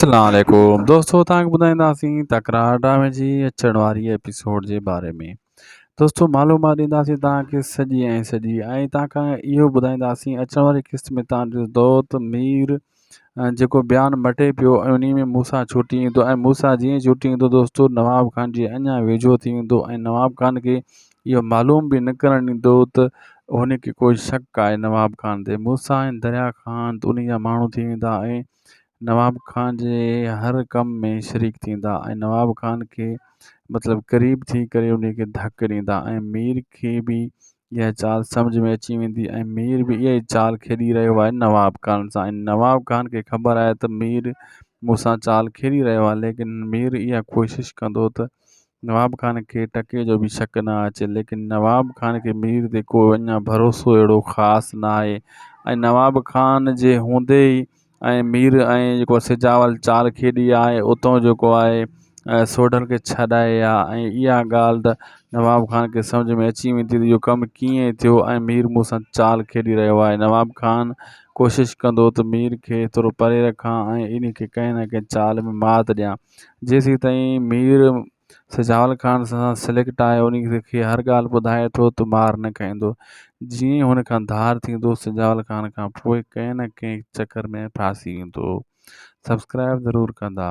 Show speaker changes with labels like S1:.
S1: اسلام عليڪم دوستو تان کي ٻڌائينداسين تڪرار ڊرامي جي اچڻ واري ايپيسوڊ جي باري ۾ دوستو معلومات ڏينداسين تان کي سڄي ۽ سڄي ۽ تان کان اهو ٻڌائينداسين اچڻ واري قسط ۾ تان جو دوت مير جيڪو بيان مٽي پيو ۽ انهي ۾ موسا ڇوٽي ايندو ۽ موسا جيئن ڇوٽي ايندو دوستو نواب خان جي اڃا ويجهو ٿي ويندو ۽ نواب خان کي اهو معلوم به نه ڪرڻ ڏيندو ته هن کي ڪوئي شڪ آهي نواب خان تي موسا ۽ دريا خان انهي جا ماڻهو ٿي ويندا ۽ نواب خان جي هر ڪم ۾ شريڪ ٿيندا ۽ نواب خان کي مطلب قريب ٿي ڪري ان کي ڌڪ ڏيندا ۽ مير کي به اها چال سمجهه ۾ اچي ويندي ۽ مير به اها ئي چال کيڏي رهيو آهي نواب خان سان ۽ نواب خان کي خبر آهي ته مير مون سان چال کيڏي رهيو آهي ليڪن مير اها ڪوشش ڪندو ته نواب خان کي ٽڪي جو به شڪ نه اچي ليڪن نواب خان کي مير تي ڪو اڃا ڀروسو اهڙو خاص ناهي ۽ نواب خان جي هوندي ئي ۽ مير ۽ جيڪو آهي سجاول چار کيڏي آهي اتو جيڪو آهي سوڍل کي ڇڏائي آ ۽ اها ڳالهه ته نواب خان کي سمجهه ۾ اچي ويندي ته اهو ڪم ڪيئن ٿيو ۽ مير مون سان چال کيڏي رهيو آهي نواب خان ڪوشش ڪندو ته مير کي ٿورو پري رکان ۽ انهي کي ڪنهن نه ڪنهن چال ۾ مات ڏيان جيسيتائين مير سجاول خان سان سليڪٽ آهي ان کي هر ڳالهه ٻڌائي ٿو ته مار نه کائيندو جيئن ئي هن کان ڌار ٿيندو سجاول خان کان پوء ڪنهن نه ڪنهن چڪر ۾ ڦاسي ويندو سبسڪرائب ضرور ڪندا.